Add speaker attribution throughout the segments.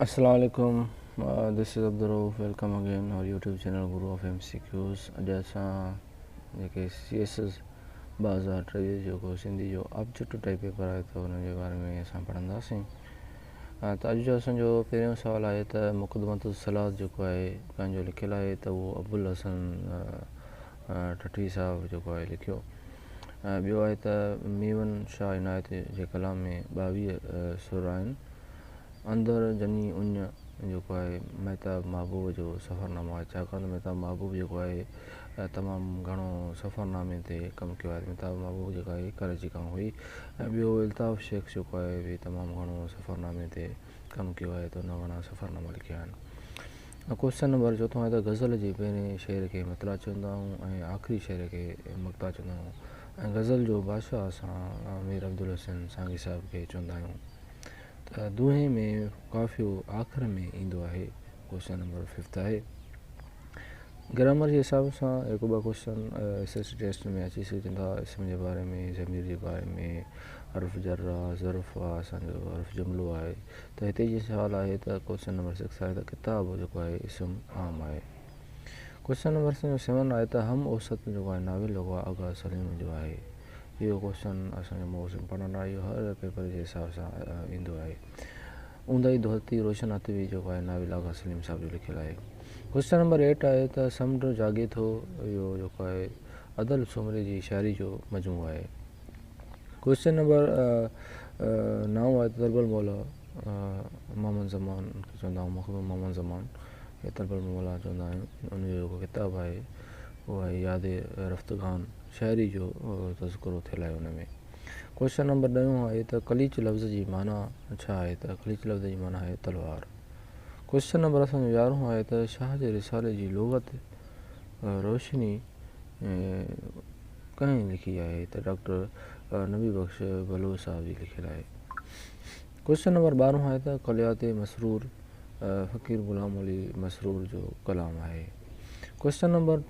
Speaker 1: السلام عليڪم this is Abdulrauf welcome again our YouTube channel Guru of M C Qs اڄ اسان جيڪي سي ايس ايس ٻه هزار ٽيويهه جيڪو سنڌي جو آبجيڪٽو ٽائپ پيپر آهي ته ان جي باري ۾ اسان پڙهنداسين ته اڄ جو اسانجو پهريون سوال آهي ته مقدمت الصلاح جيڪو آهي پنهنجو لکيل آهي ته اهو ابوالحسن ٺٽوي صاحب جيڪو آهي لکيو ۽ ٻيو آهي ته ميون شاهه عنايت جي ڪلام ۾ ٻاويهه سر آهن اندر جني اڃ جيڪو آهي مهتاب محبوب جو سفرنامو آهي ڇاڪاڻ ته مهتاب محبوب جيڪو آهي تمام گهڻو سفرنامي تي ڪم ڪيو آهي مهتاب محبوب جيڪا آهي ڪراچي کان هئي ۽ ٻيو الطاف شيخ جيڪو آهي تمام گهڻو سفرنامي تي ڪم ڪيو آهي تو نه وڻان سفرنامو لکيا آهن ۽ ڪوشچن نمبر چوٿون آهي ته غزل جي پهرين شعر کي مطلع چوندا آهيون ۽ آخري شعر کي مقطع چوندا آهيون ۽ غزل جو بادشاهه اسان مير عبدالحسين سانگي صاحب کي چوندا آهيون ته دوهي ۾ قافيو آخر ۾ ايندو آهي ڪوشچن نمبر ففٿ آهي گرامر جي حساب سان هڪ ٻه ڪوشچن ايس ايس ٽيسٽ ۾ اچي سگهجن ٿا اسم جي باري ۾ ضمير جي باري ۾ حرف جر آهي ظرف آهي اسانجو حرف جملو آهي ته هتي جي سوال آهي ته ڪوشچن نمبر سڪس آهي ته ڪتاب جيڪو آهي اسم عام آهي ڪوشچن نمبر سيون آهي ته هم اوسط جيڪو آهي ناول جيڪو آهي آغا سليم جو آهي اهو ڪوشچن اسانجو موسم پڙهڻ آيو هر پيپر جي حساب سان ايندو آهي اونداهي ڌرتي روشن هٿ وي جيڪو آهي ناول آغا سليم صاحب جو لکيل آهي قصه نمبر ايٽ آهي ته سمنڊ جاڳي ٿو اهو جيڪو آهي ادل سومري جي شاعري جو مجموعو آهي قصه نمبر نو آهي ته ضرب المولا محمد زمان کي چوندا آهيون مخدوم محمد زمان کي ضرب المولا چوندا آهيون ان جو جيڪو ڪتاب آهي اهو آهي ياد رفتگان شاعري جو تذڪرو ٿيل آهي ان ۾ ڪوشچن نمبر ڏهون آهي ته قليچ لفظ جي معنيٰ ڇا آهي ته قليچ لفظ جي معنيٰ آهي تلوار. ڪوشچن نمبر اسان جو يارهون آهي ته شاهه جي رسالي جي لغت روشني ڪنهن لکي آهي ته ڊاڪٽر نبي بخش بلوچ صاحب جي لکيل آهي. ڪوشچن نمبر ٻارهون آهي ته ڪليات مسرور فقير غلام علي مسرور جو ڪلام آهي. ڪوئسچن نمبر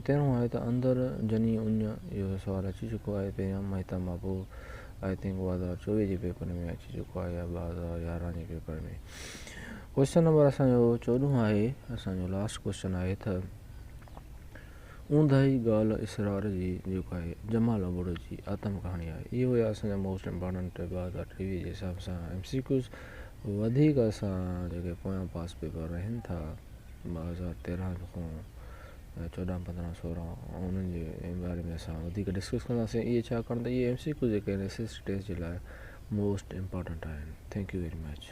Speaker 1: تيرهون آهي ته اندر جني اڃ اهو سوال اچي چڪو آهي پهريان مهتاب محبوب آئي ٿنڪ ٻه هزار چوويهه جي پيپر ۾ اچي چڪو آهي يا ٻه هزار يارهن جي پيپر ۾ ڪوئسچن نمبر اسانجو چوڏهون آهي اسانجو لاسٽ ڪوئسچن آهي ته اونداهي ڳالهه اسرار جي جيڪو آهي جمال ابڙو جي آتم ڪهاڻي آهي اهي هيا اسانجا موسٽ امپارٽنٽ ٻه هزار ٽيويهه جي حساب سان ايم سي ڪيوز وڌيڪ اسان جيڪي پويان پاس پيپر رهن ٿا ٻه هزار تيرنهن کان چوڏنهن پندرنهن سورنهن انهن جي باري ۾ اسان وڌيڪ ڊسڪس ڪنداسين اهي ڇاڪاڻ ته اهي ايم سي ڪيو جيڪي آهن ايس ايس سي ٽيسٽ جي لاء موسٽ امپارٽنٽ آهن ٿينڪ يو ويري مچ